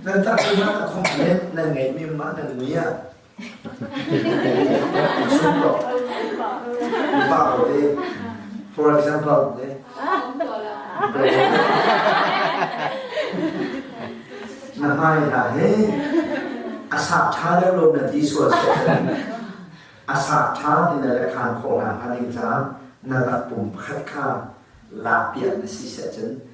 Nan tahchunhnak a thawng len nan ngeihmi mah nan ngui ah. Sum ko. Pa ko te. For example te. Na hmai hna he a sah ṭha deuh lo na ti sual seh. A sah ṭha ti na le khaan khawh hna hnga ding caah na rak pum pakhat kha lak piak na si seh cun